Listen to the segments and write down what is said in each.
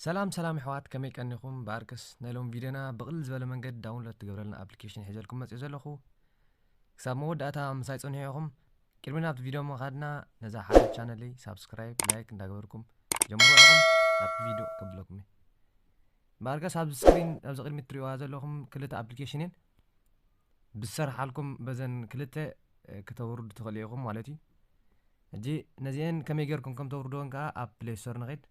ሰላም ሰላም ኣሕዋት ከመይ ቀኒኹም ብኣርክስ ናይ ሎም ቪድዮና ብቕልል ዝበለ መንገዲ ዳውንሎድ ትገብረልና ኣፕሊኬሽን ሒዘልኩም መፅኡ ዘለኹ ክሳብ መወዳእታ ምሳይ ፀንሑ ኢኹም ቅድሚ ናብቲ ቪድዮ ምኻድና ነዛ ሓደ ቻነለይ ሳብስክራይብ ላይክ እንዳገበርኩም ጀምሩ ኢኹም ናብቲ ቪድዮ ከብለኩም እዩ ባርጋስ ኣብዚ ስክሪን ኣብዚ ቅድሚት ትሪእዋ ዘለኹም ክልተ ኣፕሊኬሽን እየን ብዝሰርሓልኩም በዘን ክልተ ከተውርዱ ትኽእሉ ኢኹም ማለት እዩ እጂ ነዚአን ከመይ ጌርኩም ከም ተውርድወን ከዓ ኣብ ፕሌይ ስቶር ንኸድ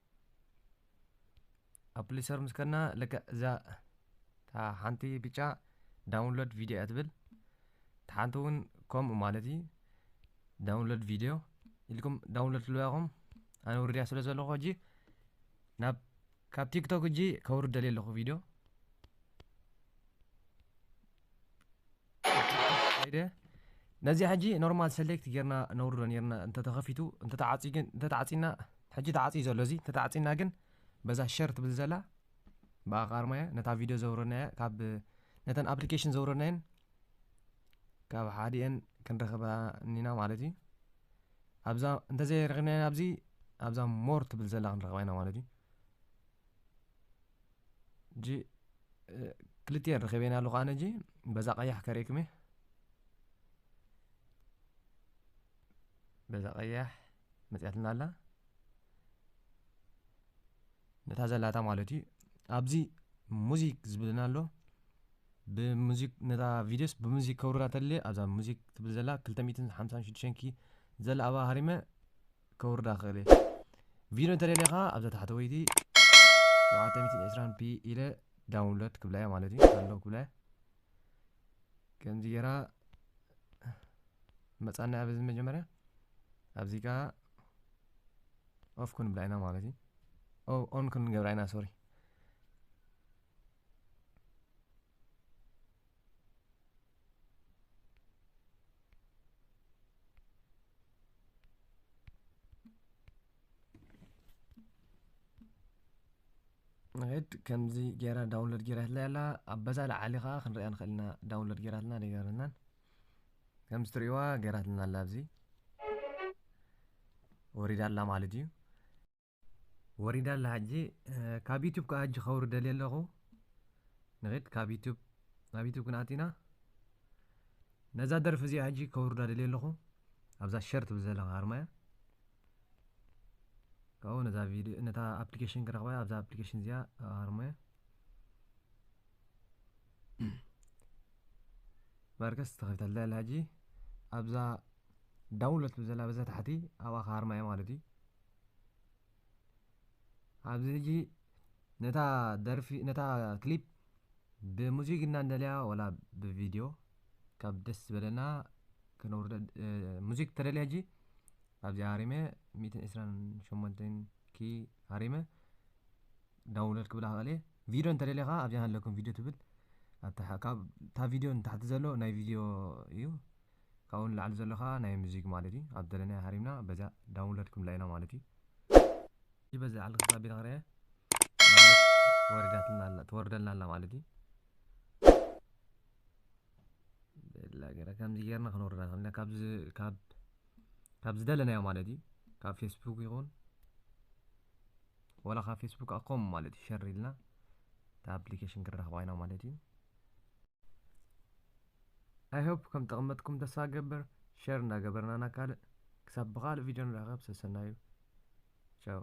ኣብ ፕሌይ ስቶር ምስ ከድና ልክዕ እዛ እታ ሓንቲ ብጫ ዳውንሎድ ቪድዮ እያ ትብል እቲ ሓንቲ እውን ከምኡ ማለት እዩ ዳውንሎድ ቪድዮ ኢልኩም ዳውንሎድ ትልዋ ኢኹም ኣነ ውርድያ ስለ ዘለኹ ሕጂ ናብ ካብ ቲክቶክ እጂ ከውርድ ደልየ ኣለኹ ቪድዮ ከይደ ነዚኣ ሕጂ ኖርማል ሰሌክት ጌርና ነውርዶ ኔርና እንተተኸፊቱ እንተተዓፅዩ ግን እንተተዓፂና ሕጂ ተዓፅዩ ዘሎ እዚ እንተተዓፂና ግን በዛ ሸር ትብል ዘላ ብኣ ቃርማያ ነታ ቪድዮ ዘውረድናያ ካብ ነተን ኣፕሊኬሽን ዘውረድናየን ካብ ሓዲኤን ክንረኽባ እኒና ማለት እዩ ኣብዛ እንተዘይ ረኺብናያ ኣብዚ ኣብዛ ሞር ትብል ዘላ ክንረኽባ ኢና ማለት እዩ እጂ ክልቲኤን ረኺበና ኣለኹ ኣነ እጂ በዛ ቀያሕ ከርእክም እየ በዛ ቀያሕ መፅያትና ኣላ ነታ ዘላታ ማለት እዩ ኣብዚ ሙዚክ ዝብልና ኣሎ ብሙዚክ ነታ ቪድዮስ ብሙዚክ ከውርዳ ተልየ ኣብዛ ሙዚክ ትብል ዘላ 256 ኪ ዘላ ኣባ ሃሪመ ከውርዳ ክእል እየ ቪድዮ እንተደሊኻ ኣብዛ ታሕተወይቲ 720 ፒ ኢለ ዳውንሎድ ክብላ እያ ማለት እዩ ኣሎ ክብላ እያ ከምዚ ጌራ መጻና ኣብዚ መጀመርያ ኣብዚ ከኣ ኦፍ ክንብላ ኢና ማለት እዩ ኦን ክንገብራ ኢና ሶሪ ንኸይድ ከምዚ ጌራ ዳውንሎድ ጌራትለይ ኣላ ኣብ በዛ ላዓሊ ከዓ ክንሪኣ ንኽእል ኢና ዳውንሎድ ጌራትና ደይገረናን ከምዚ ትርእይዋ ገይራትና ኣላ ኣብዚ ወሪዳ ኣላ ማለት እዩ ወሪዳ ኣላ ሕጂ ካብ ዩቱብ ከዓ ሕጂ ከውሪ ደልየ ኣለኹ ንኽድ ካብ ዩቱብ ናብ ዩቱብ ክንኣቲና ነዛ ደርፊ እዚኣ ሕጂ ከውርዳ ደልየ ኣለኹ ኣብዛ ሸር ትብል ዘለኻ ኣርማ እያ ካብኡ ነዛ ቪድዮ ነታ ኣፕሊኬሽን ክረኽባ ኣብዛ ኣፕሊኬሽን እዚኣ ኣርማ እያ ማርከስ ተኸፊታ ኣላ ኣላ ሕጂ ኣብዛ ዳውንሎድ ትብል ዘላ በዛ ታሕቲ ኣብኣ ክሃርማ እየ ማለት እዩ ኣብዚ ሕጂ ነታ ደርፊ ነታ ክሊፕ ብሙዚክ እና እንደልያ ወላ ብቪድዮ ካብ ደስ ዝበለና ክነውርደ ሙዚክ ተደልያ ሕጂ ኣብዚ ሃሪመ ሚእትን ዕስራን ሸሞንተን ኪ ሃሪመ ዳውንሎድ ክብላ ክእል እየ ቪድዮ እንተደሊኻ ኣብዚኣ ሃለኩም ቪድዮ ትብል ኣብታ ካብ እታ ቪድዮ ንታሕቲ ዘሎ ናይ ቪድዮ እዩ ካብኡ ንላዕሊ ዘሎ ከዓ ናይ ሙዚክ ማለት እዩ ኣብ ደለናዮ ሃሪምና በዚኣ ዳውንሎድ ክንብላ ኢና ማለት እዩ በዚ ዓል ክሳብ ቢና ክርያ ወሪዳትና ኣላ ትወርደልና ኣላ ማለት እዩ ብላ ገይረ ከምዚ ገይርና ክነውርዳ ንኽእል ካብዚ ካብ ካብ ዝደለናዮ ማለት እዩ ካብ ፌስቡክ ይኹን ዋላ ካብ ፌስቡክ ከዓ ኮም ማለት እዩ ሸር ኢልና እቲ ኣፕሊኬሽን ክንረኽባ ኢና ማለት እዩ ኣይሆፕ ከም ጠቕመጥኩም ተስፋ ገበር ሸር እንዳገበርና ናብ ካልእ ክሳብ ብካልእ ቪድዮ ንራኸብ ሰሰናዩ ቻው